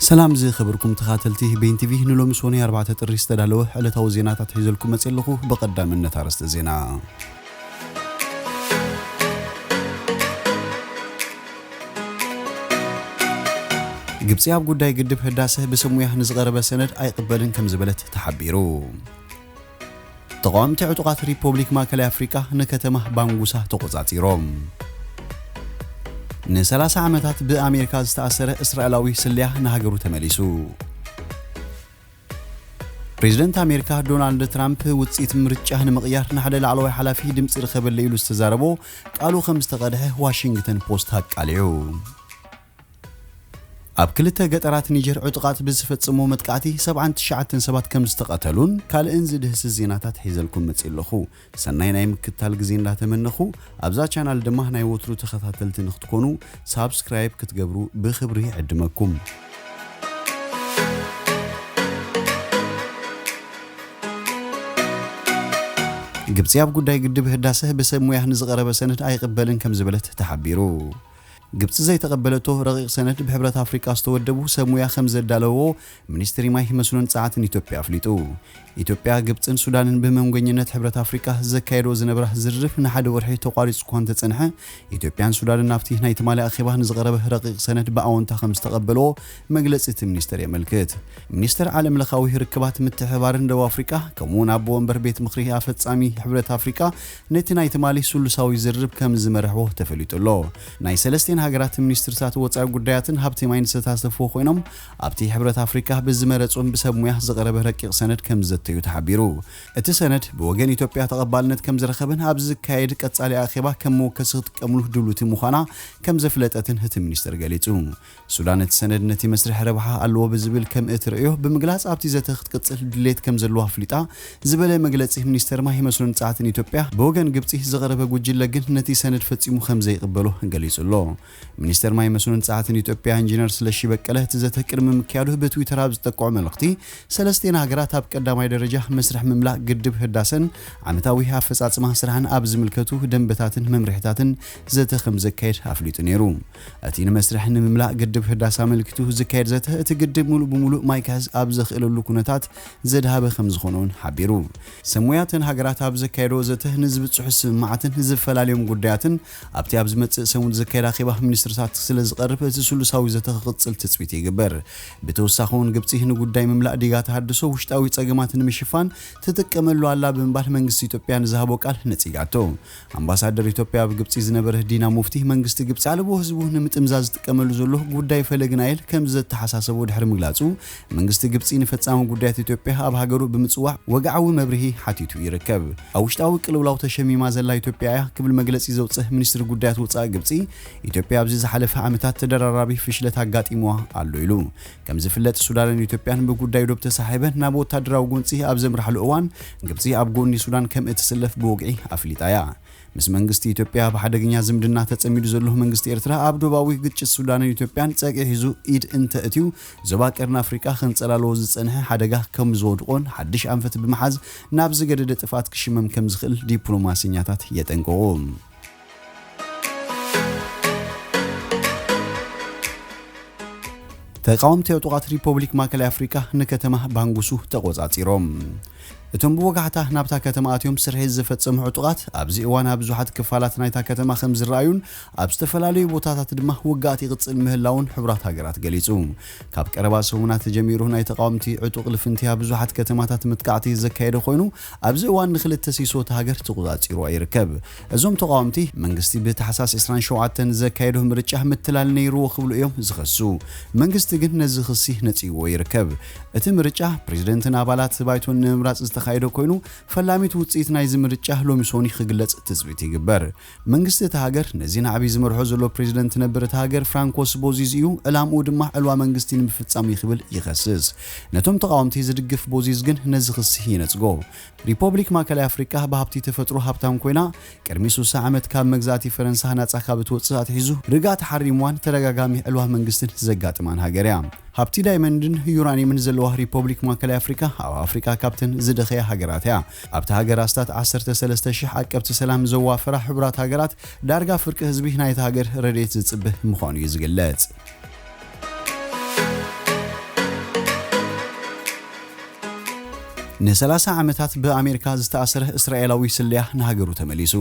ሰላም ዝከበርኩም ተካተልቲ በይን ቲቪ ንሎሚ ሶኑይ ኣርባዕተ ጥሪ ዝተዳለወ ዕለታዊ ዜናታት ሒዘልኩም መጽየ ኣለኩ ብቀዳምነት ኣርእስተ ዜና። ግብጺ ኣብ ጉዳይ ግድብ ህዳሰ ብሰብ ሙያ ንዝቐረበ ሰነድ ኣይቕበልን ከምዝበለት ተሓቢሩ። ተቓወምቲ ዕጡቓት ሪፖብሊክ ማእከላይ ኣፍሪቃ ንከተማ ባንጉሳ ተቖጻጺሮም። ንሰላሳ ዓመታት ብኣሜሪካ ዝተኣሰረ እስራኤላዊ ስለያ ንሃገሩ ተመሊሱ። ፕሬዝደንት ኣሜሪካ ዶናልድ ትራምፕ ውጽኢት ምርጫ ንምቕያር ንሓደ ላዕለዋይ ሓላፊ ድምፂ ርኸበለይ ኢሉ ዝተዛረቦ ቃሉ ከም ዝተቐድሐ ዋሽንግተን ፖስት ኣቃሊዑ። ኣብ ክልተ ገጠራት ኒጀር ዕጡቓት ብዝፈጸምዎ መጥቃዕቲ ሰብዓን ትሽዓተን ሰባት ከምዝተቐተሉን ካልእን ዝድህስስ ዜናታት ሒዘልኩም መጺእ ኣለኹ። ሰናይ ናይ ምክትታል ግዜ እንዳተመነኹ ኣብዛ ቻናል ድማ ናይ ወትሩ ተኸታተልቲ ንክትኮኑ ሳብስክራይብ ክትገብሩ ብኽብሪ ይዕድመኩም። ግብጺ ኣብ ጉዳይ ግድብ ህዳሰ ብሰብ ሙያህ ንዝቐረበ ሰነድ ኣይቕበልን ከምዝበለት ተሓቢሩ። ግብጺ ዘይተቐበለቶ ረቒቕ ሰነድ ብሕብረት ኣፍሪቃ ዝተወደቡ ሰብ ሙያ ከምዘዳለውዎ ሚኒስትሪ ማይ፣ መስኖን ጸዓትን ኢትዮጵያ ኣፍሊጡ። ኢትዮጵያ፣ ግብጽን ሱዳንን ብመንጎኝነት ሕብረት ኣፍሪቃ ዘካየድኦ ዝነብራ ዝርርብ ንሓደ ወርሒ ተቋሪጹ'ኳ እንተጸንሐ፣ ኢትዮጵያን ሱዳንን ናብቲ ናይ ትማሊ ኣኼባ ንዝቐረበ ረቒቕ ሰነድ ብኣወንታ ከምዝተቐበልዎ መግለጺ እቲ ሚኒስተር የመልክት። ሚኒስተር ዓለምለኻዊ ርክባት ምትሕብባርን ደቡብ ኣፍሪቃ ከምኡ'ውን ኣቦ ወንበር ቤት ምኽሪ ኣፈጻሚ ሕብረት ኣፍሪቃ ነቲ ናይ ትማሊ ስሉሳዊ ዝርርብ ከም ዝመርሕዎ ተፈሊጡ ኣሎ። ናይ ሰለስቲኤን ሃገራት ሚኒስትርታት ወጻኢ ጉዳያትን ሃብቲ ማይን ዝተሳተፍዎ ኮይኖም፣ ኣብቲ ሕብረት ኣፍሪቃ ብዝመረጹም ብሰብ ሙያ ዝቐረበ ረቂቕ ሰነድ ከም ዝዘተዩ ተሓቢሩ። እቲ ሰነድ ብወገን ኢትዮጵያ ተቐባልነት ከም ዝረኸበን ኣብ ዝካየድ ቀጻሊ ኣኼባ ከም መወከሲ ክትጥቀምሉ ድሉውቲ ምዃና ከም ዘፍለጠትን እቲ ሚኒስተር ገሊጹ። ሱዳን እቲ ሰነድ ነቲ መስርሕ ረብሓ ኣለዎ ብዝብል ከምእትርእዮ ብምግላጽ ኣብቲ ዘተ ክትቅጽል ድሌት ከምዘለዋ ኣፍሊጣ ዝበለ መግለጺ ሚኒስተር ማይ መስኖን ጸዓትን ኢትዮጵያ ብወገን ግብጺ ዝቐረበ ጉጅለ ግን ነቲ ሰነድ ፈጺሙ ከምዘይቕበሎ ገሊጹ ኣሎ። ሚኒስተር ማይ መስኖን ጸዓትን ኢትዮጵያ ኢንጂነር ስለሺ በቀለ እቲ ዘተ ቅድሚ ምክያዱ ብትዊተር ኣብ ዝጠቀዖ መልእኽቲ ሰለስቴን ሃገራት ኣብ ቀዳማይ ደረጃ መስርሕ ምምላእ ግድብ ህዳሰን ዓመታዊ ኣፈጻጽማ ስራሕን ኣብ ዝምልከቱ ደንበታትን መምርሒታትን ዘተ ከምዘካየድ ኣፍሊጡ ነይሩ። እቲ ንመስርሕ ንምምላእ ግድብ ህዳሰ ኣመልኪቱ ዝካየድ ዘተ እቲ ግድብ ሙሉእ ብሙሉእ ማይ ክሕዝ ኣብ ዘኽእለሉ ኩነታት ዘድሃበ ከምዝኾነ እውን ሓቢሩ። ሰብ ሞያ እተን ሃገራት ኣብ ዘካየድኦ ዘተ ንዝብፅሑ ስምምዓትን ዝፈላልዮም ጉዳያትን ኣብቲ ኣብ ዝመፅእ ሰሙን ዝካየድ ኣኼባ ሚኒስትርታት ስለዝቐርብ እቲ ስሉሳዊ ዘተ ክቕፅል ትፅቢት ይግበር። ብተወሳኺ እውን ግብፂ ንጉዳይ ምምላእ ዲጋ ተሃድሶ ውሽጣዊ ፀገማት ንምሽፋን ትጥቀመሉ ኣላ ብምባል መንግስቲ ኢትዮጵያ ንዝሃቦ ቃል ነፂጋቶ። ኣምባሳደር ኢትዮጵያ ኣብ ግብጺ ዝነበረ ዲና ሙፍቲ፣ መንግስቲ ግብጺ ኣልቦ ህዝቡ ንምጥምዛዝ ዝጥቀመሉ ዘሎ ጉዳይ ፈለግ ናይል ከምዚ ዘተሓሳሰቦ ድሕሪ ምግላጹ፣ መንግስቲ ግብጺ ንፈጻሚ ጉዳያት ኢትዮጵያ ኣብ ሃገሩ ብምጽዋዕ ወግዓዊ መብርሂ ሓቲቱ ይርከብ። ኣብ ውሽጣዊ ቅልውላው ተሸሚማ ዘላ ኢትዮጵያ እያ ክብል መግለጺ ዘውጽእ ሚኒስትሪ ጉዳያት ወጻኢ ግብጺ፣ ኢትዮጵያ ኣብዚ ዝሓለፈ ዓመታት ተደራራቢ ፍሽለት ኣጋጢሙዋ ኣሎ ኢሉ። ከም ዝፍለጥ ሱዳንን ኢትዮጵያን ብጉዳይ ዶብ ተሳሒበን ናብ ወታደራዊ ጎንጺ ኣብ ዘምርሓሉ እዋን ግብጺ ኣብ ጎኒ ሱዳን ከም እትስለፍ ብወግዒ ኣፍሊጣ እያ። ምስ መንግስቲ ኢትዮጵያ ኣብ ሓደገኛ ዝምድና ተጸሚዱ ዘሎ መንግስቲ ኤርትራ ኣብ ዶባዊ ግጭት ሱዳንን ኢትዮጵያን ጸግዒ ሒዙ ኢድ እንተ እትዩ ዞባ ቀርኒ ኣፍሪቃ ከንጸላልዎ ዝጸንሐ ሓደጋ ከም ዝወድቖን ሓድሽ ኣንፈት ብምሓዝ ናብ ዝገደደ ጥፍኣት ክሽመም ከም ዝኽእል ዲፕሎማሰኛታት የጠንቅቑ። ተቃወምቲ ዕጡቓት ሪፖብሊክ ማእከላይ ኣፍሪቃ ንከተማ ባንጉሱ ተቖጻጺሮም እቶም ብወጋሕታ ናብታ ከተማ ኣትዮም ስርሒት ዝፈጸሙ ዕጡቓት ኣብዚ እዋን ኣብ ብዙሓት ክፋላት ናይታ ከተማ ከም ዝረኣዩን ኣብ ዝተፈላለዩ ቦታታት ድማ ውግኣት ይቕጽል ምህላውን ሕቡራት ሃገራት ገሊጹ ካብ ቀረባ ሰሙናት ጀሚሩ ናይ ተቃወምቲ ዕጡቕ ልፍንቲያ ብዙሓት ከተማታት መጥቃዕቲ ዘካየደ ኮይኑ ኣብዚ እዋን ንክልተ ሲሶ እታ ሃገር ተቖጻጺርዋ ይርከብ። እዞም ተቓወምቲ፣ መንግስቲ ብታሕሳስ ዕስራን ሸውዓተን ዘካየዶ ምርጫ ምትላል ነይርዎ ክብሉ እዮም ዝኸሱ። መንግስቲ ግን ነዚ ክሲ ነጺግዎ ይርከብ። እቲ ምርጫ፣ ፕረዚደንትን ኣባላት ባይቶን ንምምራጽ ዝተኻየደ ኮይኑ፣ ፈላሚት ውጽኢት ናይዚ ምርጫ ሎሚ ሰኑይ ክግለጽ ትጽቢት ይግበር። መንግስቲ እታ ሃገር ነዚ ናዕቢ ዝመርሖ ዘሎ ፕሬዚደንት ነበር እታ ሃገር ፍራንኮስ ቦዚዝ እዩ፣ ዕላምኡ ድማ ዕልዋ መንግስቲ ንምፍፃም እዩ ክብል ይኸስስ። ነቶም ተቓወምቲ ዝድግፍ ቦዚዝ ግን ነዚ ክሲ ይነፅጎ። ሪፖብሊክ ማእከላይ ኣፍሪቃ ብሃብቲ ተፈጥሮ ሃብታም ኮይና ቅድሚ ስሳ ዓመት ካብ መግዛእቲ ፈረንሳ ናፃ ካብ እትወፅእ ኣትሒዙ ርግኣ ተሓሪምዋን ተደጋጋሚ ዕልዋ መንግስትን ዘጋጥማን ሃገር እያ። ሃብቲ ዳይመንድን ዩራኒየምን ዘለዋ ሪፖብሊክ ማእከላይ ኣፍሪቃ ኣብ ኣፍሪቃ ካብተን ዝደኸያ ሃገራት እያ። ኣብታ ሃገር ኣስታት ዓሰርተ ሰለስተ ሽሕ ዓቀብቲ ሰላም ዘዋፈራ ሕቡራት ሃገራት፣ ዳርጋ ፍርቂ ህዝቢ ናይታ ሃገር ረድኤት ዝጽበ ምዃኑ'ዩ ዝግለጽ። ንሰላሳ ዓመታት ብኣሜሪካ ዝተኣሰረ እስራኤላዊ ስለያ ንሃገሩ ተመሊሱ።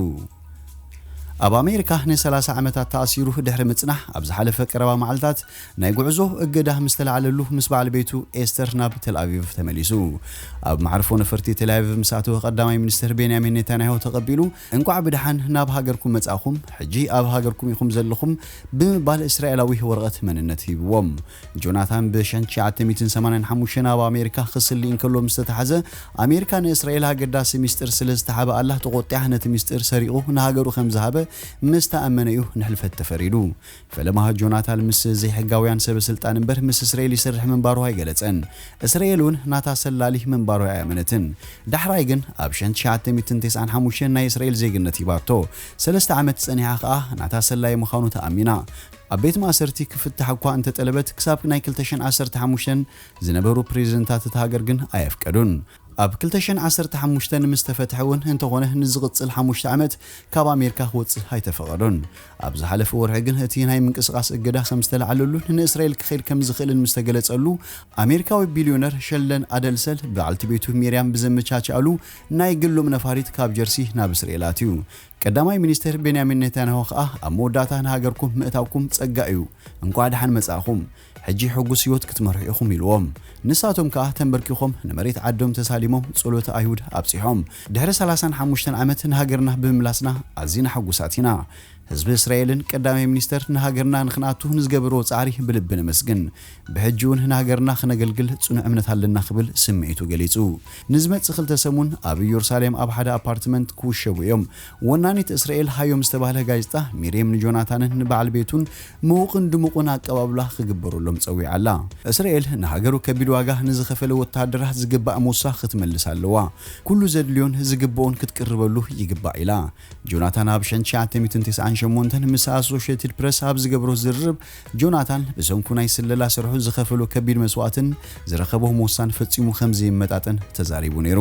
ኣብ ኣሜሪካ ንሰላሳ ዓመታት ተኣሲሩ ድሕሪ ምጽናሕ፣ ኣብ ዝሓለፈ ቀረባ መዓልታት ናይ ጉዕዞ እገዳ ምስ ተላዕለሉ ምስ በዓል ቤቱ ኤስተር ናብ ተልኣቪቭ ተመሊሱ። ኣብ መዓርፎ ነፈርቲ ቴልኣቪቭ ምስ ኣተወ ቀዳማይ ሚኒስተር ቤንያሚን ኔታንያሁ ተቐቢሉ እንቋዕ ብደሓን ናብ ሃገርኩም መጻእኹም ሕጂ ኣብ ሃገርኩም ኢኹም ዘለኹም ብምባል እስራኤላዊ ወረቐት መንነት ሂብዎ። ጆናታን ብ ሸን ትሽዓተ ሚእትን ሰማንያን ሓሙሽተን ኣብ ኣሜሪካ ክስሊ እንከሎ ምስ ተታሕዘ ኣሜሪካ ንእስራኤል ኣገዳሲ ሚስጢር ስለ ዝተሓበኣላ ተቖጢዓ ነቲ ሚስጢር ሰሪቑ ንሃገሩ ከም ዝሃበ ምስ ተኣመነ እዩ ንሕልፈት ተፈሪዱ። ፈለማ ጆናታን ምስ ዘይሕጋውያን ሰበስልጣን እምበር ምስ እስራኤል ይሰርሕ ምንባሩ ኣይገለጸን። እስራኤል እውን ናታ ሰላሊ ምንባሩ ኣይኣመነትን። ዳሕራይ ግን ኣብ ሸን ትሽዓተ ሚእትን ተስዓን ሓሙሽተን ናይ እስራኤል ዜግነት ሂባቶ። ሰለስተ ዓመት ጸኒሓ ከኣ ናታ ሰላዪ ምዃኑ ተኣሚና። ኣብ ቤት ማእሰርቲ ክፍታሕ እኳ እንተጠለበት ክሳብ ናይ ክልተ ሽሕን ዓሰርተ ሓሙሽተን ዝነበሩ ፕረዚደንታት እታ ሃገር ግን ኣየፍቀዱን። ኣብ ክልተ ሽሕን ዓሰርተ ሓሙሽተን ምስ ተፈትሐ እውን እንተኾነ ንዝቕፅል ሓሙሽተ ዓመት ካብ ኣሜሪካ ክወፅእ ኣይተፈቐዶን። ኣብ ዝሓለፈ ወርሒ ግን እቲ ናይ ምንቅስቓስ እገዳ ከም ዝተልዓለሉን ንእስራኤል ክኸይድ ከም ዝኽእልን ምስ ተገለፀሉ ኣሜሪካዊ ቢልዮነር ሸልደን ኣደልሰል በዓልቲ ቤቱ ሚርያም ብዘመቻቸኣሉ ናይ ግሎም ነፋሪት ካብ ጀርሲ ናብ እስራኤል ኣትዩ። ቀዳማይ ሚኒስትር ቤንያሚን ኔታንያሁ ከዓ ኣብ መወዳእታ ንሃገርኩም ምእታውኩም ፀጋ እዩ። እንኳዕ ደሓን መፃእኹም። ሕጂ ሕጉስ ህይወት ክትመርሑ ኢኹም ኢልዎም። ንሳቶም ከኣ ተምበርኪኾም ንመሬት ዓዶም ተሳሊሞም ጸሎተ ኣይሁድ ኣብጺሖም። ድሕሪ ሰላሳን ሓሙሽተን ዓመት ንሃገርና ብምምላስና ኣዚና ሕጉሳት ኢና። ህዝቢ እስራኤልን ቀዳማይ ሚኒስተር ንሃገርና ንኽንኣቱ ንዝገበርዎ ጻዕሪ ብልቢ ነመስግን። ብሕጂ'ውን ንሃገርና ክነገልግል ጽኑዕ እምነት ኣለና ክብል ስምዒቱ ገሊጹ። ንዝመጽእ ክልተ ሰሙን ኣብ እየሩሳሌም ኣብ ሓደ ኣፓርትመንት ክውሸቡ እዮም። ወናኒት እስራኤል ሃዮም ዝተባህለ ጋዜጣ፣ ሚርየም ንጆናታንን ንበዓል ቤቱን ምዉቕን ድሙቕን ኣቀባብላ ክግበረሎም ጸዊዓ ኣላ። እስራኤል፣ ንሃገሩ ከቢድ ዋጋ ንዝኸፈለ ወተሃደራ ዝግባእ ሞሳ ክትመልስ ኣለዋ። ኩሉ ዘድልዮን ዝግብኦን ክትቅርበሉ ይግባእ ኢላ። ጆናታን ኣብ ሸን ትሽዓተ ሚእትን ተስዓን ሸሞንተን ምስ ኣሶሸትድ ፕረስ ኣብ ዝገበሮ ዝርርብ፣ ጆናታን ብሰንኩ ናይ ስለላ ስርሑ ዝኸፈሎ ከቢድ መስዋእትን ዝረኸቦ ሞሳን ፈጺሙ ከምዘይመጣጠን ተዛሪቡ ነይሩ።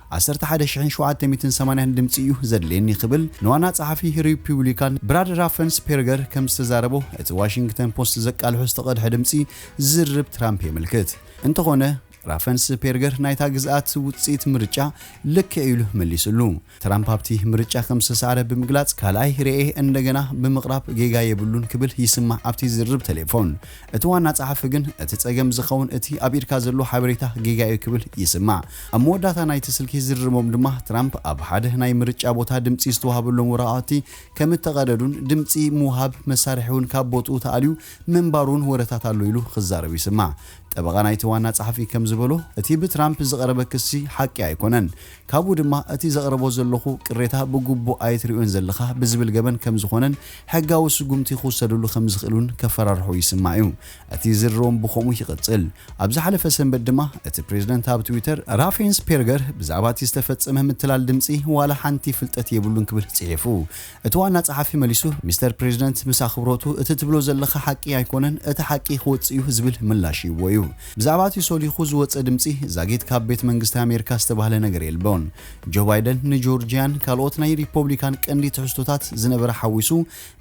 ዓሰርተ ሓደ ሽሕን ሸውዓተ ሚእትን ሰማንያን ድምጺ እዩ ዘድልየኒ ክብል ንዋና ጸሓፊ ሪፑብሊካን ብራድ ራፈንስፔርገር ከም ዝተዛረቦ እቲ ዋሽንግተን ፖስት ዘቃልሖ ዝተቐድሐ ድምጺ ዝርርብ ትራምፕ የመልክት። እንተኾነ ራፈንስፔርገር ናይታ ግዝኣት ውጽኢት ምርጫ ልክዕ ኢሉ መሊስሉ። ትራምፕ ኣብቲ ምርጫ ከም ዝተሳዕረ ብምግላጽ ካልኣይ ርኤ እንደገና ብምቕራብ ጌጋ የብሉን ክብል ይስማዕ ኣብቲ ዝርርብ ተሌፎን። እቲ ዋና ጸሓፊ ግን እቲ ጸገም ዝኸውን እቲ ኣብ ኢድካ ዘሎ ሓበሬታ ጌጋ'ዩ ክብል ይስማዕ። ኣብ መወዳእታ ናይቲ ስልኪ ዝርርቦም ድማ ትራምፕ ኣብ ሓደ ናይ ምርጫ ቦታ ድምጺ ዝተዋህበሎም ወረቓቕቲ ከም እተቐደዱን ድምጺ ምውሃብ መሳርሒ'ውን ካብ ቦትኡ ተኣልዩ ምንባሩ'ውን ወረታት ኣሎ ኢሉ ክዛረብ ይስማዕ። ጠበቓ ናይቲ ዋና ጸሓፊ ከም ዝበሎ እቲ ብትራምፕ ዝቐረበ ክሲ ሓቂ ኣይኮነን። ካብኡ ድማ እቲ ዘቕረቦ ዘለኹ ቅሬታ ብግቡእ ኣይትሪኦን ዘለኻ ብዝብል ገበን ከም ዝኾነን ሕጋዊ ስጉምቲ ክውሰደሉ ከም ዝኽእል እውን ከፈራርሖ ይስማዕ እዩ። እቲ ዝርርቦም ብኸምኡ ይቕጽል። ኣብ ዝሓለፈ ሰንበት ድማ እቲ ፕሬዝደንት ኣብ ትዊተር ራፌንስፔርገር ብዛዕባ እቲ ዝተፈጸመ ምትላል ድምጺ ዋላ ሓንቲ ፍልጠት የብሉን ክብል ጽሒፉ። እቲ ዋና ጸሓፊ መሊሱ፣ ሚስተር ፕሬዚደንት ምስ ኣኽብሮቱ፣ እቲ ትብሎ ዘለኻ ሓቂ ኣይኮነን፣ እቲ ሓቂ ክወጽእ እዩ ዝብል ምላሽ ሂብዎ እዩ። ብዛዕባ እቲ ሶሊኹ ዝወጸ ድምጺ ዛጊት ካብ ቤት መንግስቲ ኣሜሪካ ዝተባህለ ነገር የልቦን። ጆ ባይደን ንጆርጂያን ካልኦት ናይ ሪፖብሊካን ቀንዲ ትሕዝቶታት ዝነበረ ሓዊሱ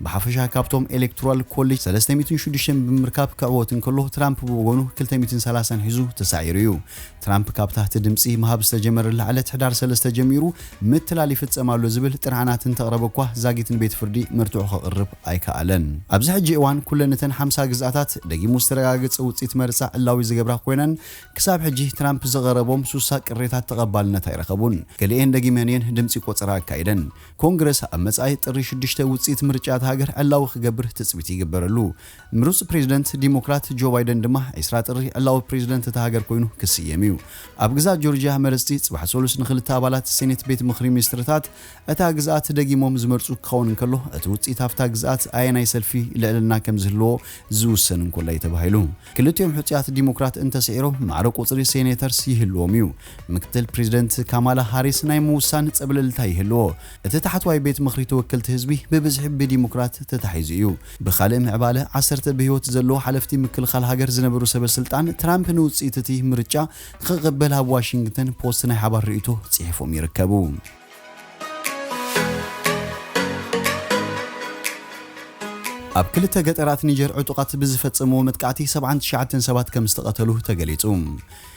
ብሓፈሻ ካብቶም ኤሌክቶራል ኮሌጅ ሰለስተ ሚእትን ሽዱሽተን ብምርካብ ክዕወት እንከሎ ትራምፕ ብወገኑ ክልተ ሚእትን ሰላሳን ሒዙ ተሳዒሩ እዩ። ትራምፕ ካብ ታህቲ ድምጺ ምሃብ ዝተጀመረላ ዕለት ሕዳር ሰለስተ ጀሚሩ ምትላል ይፍጸም ኣሎ ዝብል ጥርዓናት እንተቕረበ እኳ ዛጊት ንቤት ፍርዲ መርትዖ ከቕርብ ኣይከኣለን። ኣብዚ ሕጂ እዋን ኩለን እተን ሓምሳ ግዝኣታት ደጊሙ ዝተረጋገጸ ውጽኢት መርጻ ዕላዊ ዝገብራ ኮይነን ክሳብ ሕጂ ትራምፕ ዘቐረቦም ሱሳ ቅሬታት ተቐባልነት ኣይረኸቡን። ገሊኤን ደጊመን እየን ድምጺ ቆጸራ ኣካይደን። ኮንግረስ ኣብ መጻኢ ጥሪ ሽዱሽተ ውጽኢት ምርጫ እታ ሃገር ዕላዊ ክገብር ትጽቢት ይግበረሉ። ምሩጽ ፕሬዝደንት ዲሞክራት ጆ ባይደን ድማ ዕስራ ጥሪ ዕላዊ ፕሬዝደንት እታ ሃገር ኮይኑ ክስየም እዩ። ኣብ ግዝኣት ጆርጅያ መረጽቲ ጽባሕ ሰሉስ ንኽልተ ኣባላት ሴኔት ቤት ምኽሪ ሚኒስትርታት እታ ግዝኣት ደጊሞም ዝመርጹ ክኸውን እንከሎ እቲ ውጽኢት ኣብታ ግዝኣት ኣየናይ ሰልፊ ልዕልና ከምዝህልዎ ዝውሰን እንኮላይ እዩ ተባሂሉ። ክልቲኦም ሕጹያት ዲሞክራት እንተስዒሮም ማዕረ ቁጽሪ ሴኔተርስ ይህልዎም እዩ። ምክትል ፕሬዝደንት ካማላ ሃሪስ ናይ ምውሳን ጸብለልታ ይህልዎ። እቲ ታሕተዋይ ቤት ምኽሪ ተወከልቲ ህዝቢ ብብዝሒ ብዲሞክራት ተታሒዙ እዩ። ብኻልእ ምዕባለ፣ ዓሰርተ ብህይወት ዘለዉ ሓለፍቲ ምክልኻል ሃገር ዝነበሩ ሰበ ስልጣን፣ ትራምፕ ንውጽኢት እቲ ምርጫ ንኽቕበል ኣብ ዋሽንግተን ፖስት ናይ ሓባር ርእይቶ ጽሒፎም ይርከቡ። ኣብ ክልተ ገጠራት ኒጀር ዕጡቓት ብዝፈጸምዎ መጥቃዕቲ ሰብዓን ትሽዓተን ሰባት ከምዝተቐተሉ ተገሊጹ።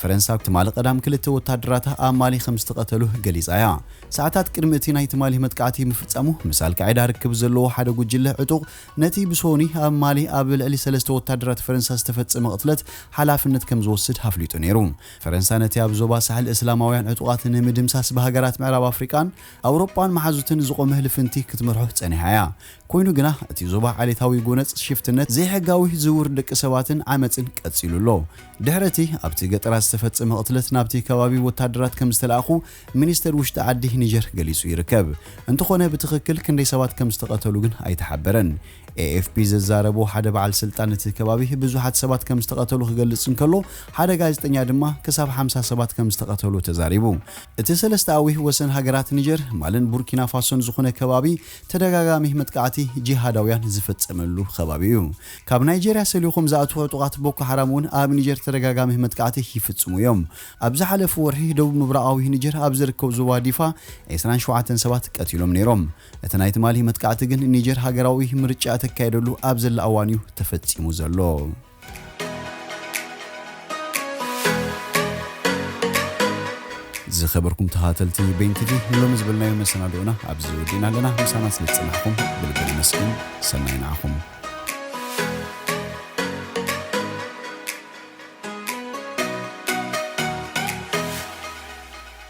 ፈረንሳ ትማሊ ቀዳም ክልተ ወታደራታ ኣብ ማሊ ከም ዝተቐተሉ ገሊጻ እያ። ሰዓታት ቅድሚ እቲ ናይ ትማሊ መጥቃዕቲ ምፍጻሙ፣ ምስ ኣልቃዒዳ ርክብ ዘለዎ ሓደ ጉጅለ ዕጡቕ፣ ነቲ ብሶኑይ ኣብ ማሊ ኣብ ልዕሊ ሰለስተ ወታደራት ፈረንሳ ዝተፈጸመ ቅትለት ሓላፍነት ከም ዝወስድ ኣፍሊጡ ነይሩ። ፈረንሳ ነቲ ኣብ ዞባ ሳሕል እስላማውያን ዕጡቓት ንምድምሳስ ብሃገራት ምዕራብ ኣፍሪቃን ኣውሮጳን መሓዙትን ዝቖመ ልፍንቲ ክትመርሖ ጸኒሓ እያ። ኮይኑ ግና እቲ ዞባ ዓሌታዊ ጎነጽ ሽፍትነት፣ ዘይሕጋዊ ዝውውር ደቂ ሰባትን ዓመጽን ቀጺሉ ኣሎ። ድሕሪ እቲ ኣብቲ ገጠራት ዝተፈጸመ ቅትለት ናብቲ ከባቢ ወታደራት ከም ዝተላእኩ ሚኒስተር ውሽጢ ዓዲ ኒጀር ገሊጹ ይርከብ። እንተኾነ ብትኽክል ክንደይ ሰባት ከም ዝተቐተሉ ግን ኣይተሓበረን። ኤኤፍፒ ዘዛረቦ ሓደ በዓል ስልጣን እቲ ከባቢ ብዙሓት ሰባት ከም ዝተቐተሉ ክገልጽ እንከሎ ሓደ ጋዜጠኛ ድማ ክሳብ ሓምሳ ሰባት ከም ዝተቐተሉ ተዛሪቡ። እቲ ሰለስተኣዊ ወሰን ሃገራት ኒጀር፣ ማልን ቡርኪናፋሶን ዝኹነ ከባቢ ተደጋጋሚ መጥቃዕቲ ጂሃዳውያን ዝፍጸመሉ ከባቢ እዩ። ካብ ናይጀርያ ሰሊኾም ዝኣትዉ ዕጡቓት ቦኮ ሓራም እውን ኣብ ኒጀር ተደጋጋሚ መጥቃዕቲ ይፍጽሙ እዮም። ኣብ ዝሓለፉ ወርሒ ደቡብ ምብራቓዊ ኒጀር ኣብ ዝርከብ ዞባ ዲፋ ዕስራን ሸውዓተን ሰባት ቀቲሎም ነይሮም። እቲ ናይ ትማሊ መጥቃዕቲ ግን ኒጀር ሃገራዊ ምርጫ እተካይደሉ ኣብ ዘላ እዋን እዩ ተፈጺሙ ዘሎ። ዝኸበርኩም ተኸታተልቲ በይን ቲቪ ንሎሚ ዝበልናዮ መሰናድኦና ኣብዚ ወዲእና ኣለና። ምሳና ስለ ዝጸናሕኩም ብልቢ ነመስግን። ሰናይ ንዓኹም።